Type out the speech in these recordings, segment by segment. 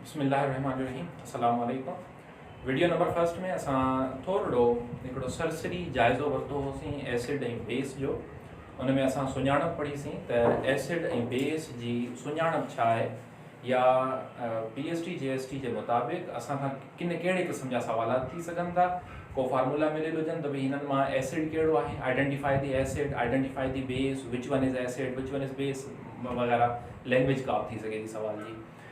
بسم الله الرحمٰن الرحيم السلام عليڪم وڊيو نمبر فرسٽ ۾ اسان ٿورڙو هڪڙو سرسري جائزو ورتو هوسين ايسڊ ۽ بيس جو ان ۾ اسان سڃاڻپ پڙهي سين ته ايسڊ ۽ بيس جي سڃاڻپ ڇا آهي يا پي ايس ٽي جي ايس ٽي جي مطابق اسان کان ڪن ڪهڙي قسم جا سوالات ٿي سگهن ٿا ڪو فارمولا مليل هجن ته ڀي هنن مان ايسڊ ڪهڙو آهي identify the acid identify the base which one is acid which one is base وغيره لينگويج ڪا به ٿي سگهي ٿي سوال جي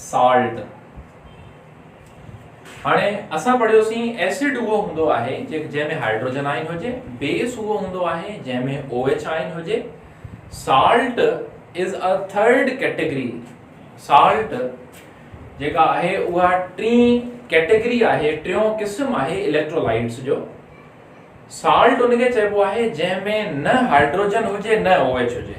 Salt، هاڻي اسان پڙهيوسين Acid اهو هوندو آهي جنهن ۾ هائڊروجن آئن هجي، Base اهو هوندو آهي جنهن ۾ او ايڇ آئن هجي، Salt is a third category، Salt جيڪا آهي اها ٽين ڪيٽيگري آهي، ٽيون قسم آهي اليڪٽرولائٽس جو، Salt ان کي چئبو آهي جنهن ۾ نه هائڊروجن هجي نه او ايڇ هجي.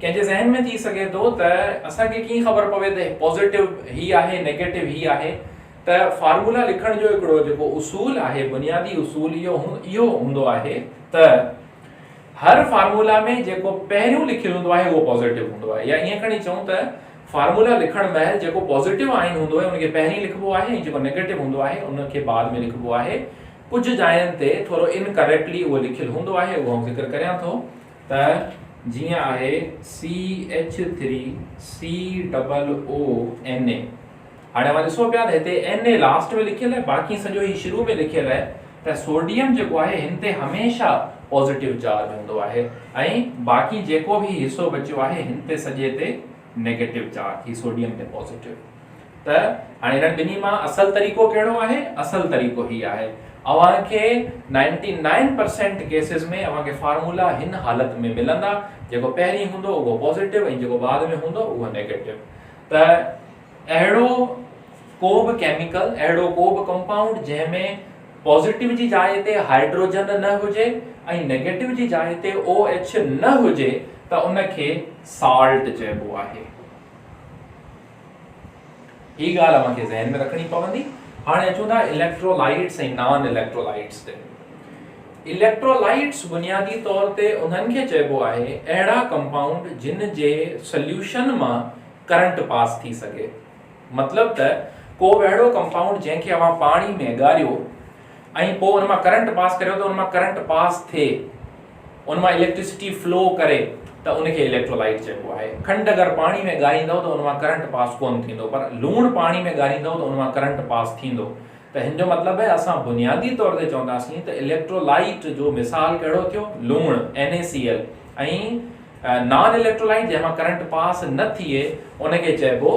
ڪنهن جي ذهن ۾ ٿي سگهي ٿو ته اسان کي ڪيئن خبر پوي ته پازيٽو هي آهي نيگيٽو هي آهي ته فارمولا لکڻ جو هڪڙو جيڪو اصول آهي بنيادي اصول اهو اهو هوندو آهي ته هر فارمولا ۾ جيڪو پهريون لکيل هوندو آهي اهو پازيٽو هوندو آهي يا ائين کڻي چئون ته فارمولا لکڻ مهل جيڪو پازيٽو آئين هوندو آهي ان کي پهرين لکبو آهي ۽ جيڪو نيگيٽو هوندو آهي ان کي بعد ۾ لکبو آهي ڪجهه جاين تي ٿورو انڪريڪٽلي اهو لکيل هوندو آهي اهو ذڪر ڪريان ٿو ته جيئن آهي C H three C double O N A هاڻي اوهان ڏسو پيا ته هتي اين اي لاسٽ ۾ لکيل آهي باقي سڄو هي شروع ۾ لکيل آهي ته سوڊيم جيڪو آهي هن تي هميشه پازيٽو چارج هوندو آهي ۽ باقي جيڪو به هي حصو بچيو آهي هن تي سڄي تي نيگيٽو چارج هي سوڊيم تي پازيٽو ته هاڻي هنن ٻنهي مان اصل طريقو ڪهڙو آهي؟ اصل طريقو هي آهي. اوهان کي نائنٽي نائن پرسينٽ ڪيسز ۾ اوهان کي فارمولا هن حالت ۾ ملندا، جيڪو پهرين هوندو اهو پازيٽو ۽ جيڪو بعد ۾ هوندو اهو نيگيٽو. ته اهڙو ڪو به ڪيميڪل، اهڙو ڪو به ڪمپائونڊ جنهن ۾ پازيٽو جي جاء تي هائڊروجن نه هجي ۽ نيگيٽو جي جاء تي او ايڇ نه هجي ته ان کي سالٽ چئبو آهي. هي ڳالهه اوهان کي ذهن ۾ رکڻي پوندي هاڻي اچون ٿا اليڪٽرولائيٽس ۽ نان اليڪٽرولائيٽس تي اليڪٽرولائيٽس بنيادي طور تي انهن کي چئبو آهي اهڙا ڪمپائونڊ جن جي سليوشن مان ڪرنٽ پاس ٿي سگهي مطلب ته ڪو به اهڙو ڪمپائونڊ جنهن کي اوهان پاڻي ۾ ڳاريو ۽ پوء ان مان ڪرنٽ پاس ڪريو ته ان مان ڪرنٽ پاس ٿئي ان مان اليڪٽريسٽي فلو ڪري ته ان کي اليڪٽرولائيٽ چئبو آهي. کنڊ اگر پاڻي ۾ ڳاريندؤ ته ان مان ڪرنٽ پاس ڪونه ٿيندو پر لوڻ پاڻي ۾ ڳاريندؤ ته ان مان ڪرنٽ پاس ٿيندو ته هن جو مطلب هي اسان بنيادي طور تي چونداسين ته اليڪٽرولائيٽ جو مثال ڪهڙو ٿيو لوڻ NaCl ۽ نان اليڪٽرولائيٽ جنهن مان ڪرنٽ پاس نه ٿئي ان کي چئبو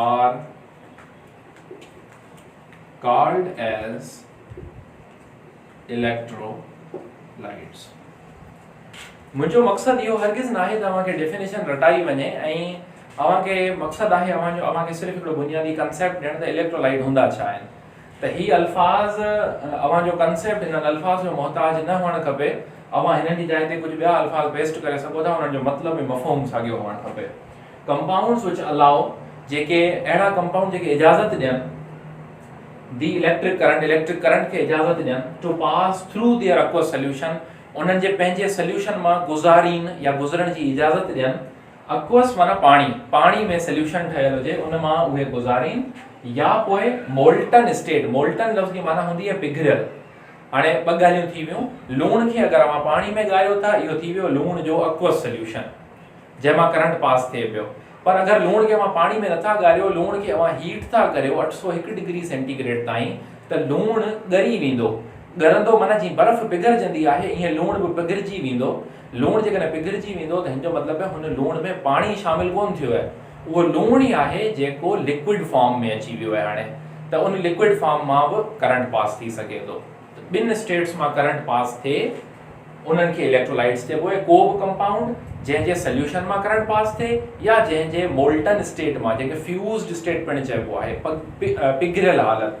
are called as electrolytes منهنجو مقصد اهو هرگز ناهي ته اوهان کي ڊيفينيشن رٽائي وڃي ۽ اوهان کي مقصد آهي اوهان جو اوهان کي صرف هڪڙو بنيادي ڪنسيپٽ ڏيڻ ته اليڪٽرو لائيٽ هوندا ڇا آهن ته هي الفاظ اوهان جو ڪنسيپٽ هنن الفاظ جو محتاج نه هئڻ کپي، اوهان هنن جي جاء تي ڪجهه ٻيا الفاظ پيسٽ ڪري سگهو ٿا، انهن جو مطلب ۽ مفهوم ساڳيو هئڻ کپي. ڪمپائونڊز وچ الاء، جيڪي اهڙا ڪمپائونڊ جيڪي اجازت ڏين، the electric current, electric current کي اجازت ڏين، to pass through their aqueous solution, انهن جي پنهنجي سليوشن مان گذارين يا گذرڻ جي اجازت ڏين، اڪوس معنيٰ پاڻي، پاڻي ۾ سليوشن ٺهيل هجي ان مان اهي گذارين يا پوء مولٽن اسٽيٽ، مولٽن لفظ جي معنيٰ هوندي آهي پگهريل. هاڻي ٻه ڳالهيون ٿي ويون، لوڻ کي اگر اوهان پاڻي ۾ ڳاريو ٿا اهو ٿي ويو لوڻ جو اڪوس سليوشن جنهن مان ڪرنٽ پاس ٿئي پيو پر اگر لوڻ کي اوهان پاڻي ۾ نٿا ڳاريو لوڻ کي اوهان هيٽ ٿا ڪريو اٺ سؤ هڪ ڊگري سينٽي گريڊ تائين ته لوڻ ڳري ويندو، ڳرندو معنيٰ جيئن برف پگهرجندي آهي ايئن لوڻ به پگهرجي ويندو لوڻ جيڪڏهن پگهرجي ويندو ته هن جو مطلب ته هن لوڻ ۾ پاڻي شامل ڪونه ٿيو آهي، اهو لوڻ ئي آهي جيڪو لڪوئڊ فارم ۾ اچي ويو آهي هاڻي ته ان لڪوئڊ فارم مان به ڪرنٽ پاس ٿي سگهي ٿو ته ٻن اسٽيٽس مان ڪرنٽ پاس ٿئي انهن کي اليڪٽرولائٽس چئبو آهي ڪو به ڪمپائونڊ جنهن جي سليوشن مان ڪرنٽ پاس ٿئي يا جنهن جي مولٽن اسٽيٽ مان جنهن کي فيوزڊ اسٽيٽ پڻ چئبو آهي پگهريل حالت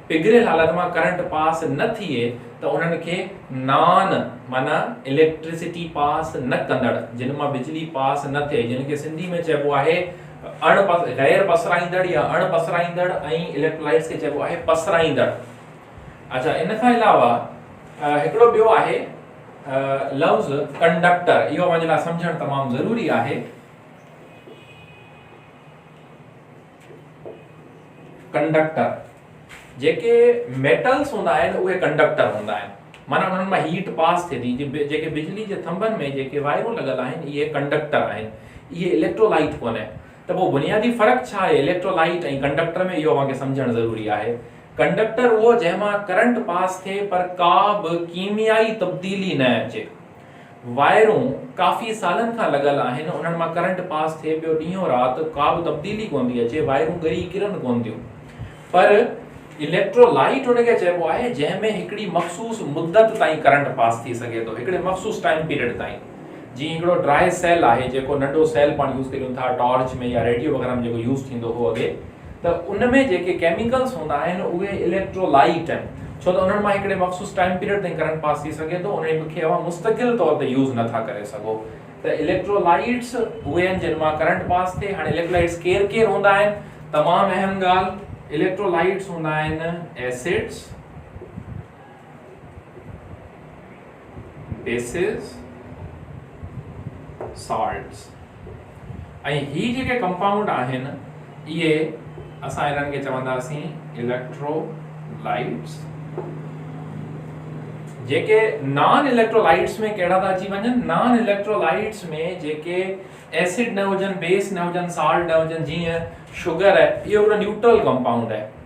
پگهريل حالت مان ڪرنٽ پاس نه ٿئي ته انهن کي نان معنيٰ اليڪٽريسٽي پاس نه ڪندڙ، جن مان بجلي پاس نه ٿئي، جن کي سنڌي ۾ چئبو آهي اڻ غير پسرائيندڙ يا اڻ پسرائيندڙ ۽ اليڪٽرولائٽس کي چئبو آهي پسرائيندڙ. اڇا ان کان علاوه هڪڙو ٻيو آهي لفظ ڪنڊڪٽر اهو اوهان جي لاء سمجهڻ تمام ضروري آهي. ڪنڊڪٽر، جيڪي ميٽلس هوندا آهن اهي ڪنڊڪٽر هوندا آهن معنيٰ انهن مان هيٽ پاس ٿئي ٿي جيڪي بجلي جي ٿنڀن ۾ جيڪي وائرون لڳل آهن اهي ڪنڊڪٽر آهن اهي اليڪٽرولائيٽ ڪونهي ته پوء بنيادي فرق ڇا آهي اليڪٽرولائيٽ ۽ ڪنڊڪٽر ۾ اهو اوهان کي سمجهڻ ضروري آهي ڪنڊڪٽر اهو جنهن مان ڪرنٽ پاس ٿئي پر ڪا به ڪيميائي تبديلي نه اچي وائرون ڪافي سالن کان لڳل آهن، انهن مان ڪرنٽ پاس ٿئي پيو، ڏينهون رات ڪابه تبديلي ڪونه ٿي اچي، وائرون ڳري ڪرن ڪونه ٿيون پر اليڪٽرو لائيٽ ان کي چئبو آهي جنهن ۾ هڪڙي مخصوص مدت تائين ڪرنٽ پاس ٿي سگهي ٿو، هڪڙي مخصوص ٽائيم پيريڊ تائين، جيئن هڪڙو ڊرائي سيل آهي جيڪو ننڍو سيل پاڻ يوز ڪريون ٿا ٽارچ ۾ يا ريڊيو وغيره ۾ جيڪو يوز ٿيندو هو اڳي. ته ان ۾ جيڪي ڪيميڪلز هوندا آهن اهي اليڪٽرولائيٽ آهن ڇو ته انهن مان هڪڙي مخصوص ٽائيم پيريڊ تائين ڪرنٽ پاس ٿي سگهي ٿو انهن کي اوهان مستقل طور تي يوز نه ٿا ڪري سگهو ته اليڪٽرولائيٽس اهي آهن جن مان ڪرنٽ پاس ٿئي هاڻي اليڪٽرولائيٽس ڪير ڪير هوندا آهن تمام اهم ڳالهه اليڪٽرولائيٽس هوندا آهن ايسڊس بيسز، سالٽس ۽ هي جيڪي ڪمپائونڊ آهن اهي اسان انهن کي چونداسين اليڪٽرولائٽس جيڪي نان اليڪٽرولائٽس ۾ ڪهڙا ٿا اچي وڃن نان اليڪٽرولائٽس ۾ جيڪي ايسڊ نه هجن بيس نه هجن سالٽ نه هجن جيئن شگر اهو هڪڙو نيوٽرل ڪمپائونڊ آهي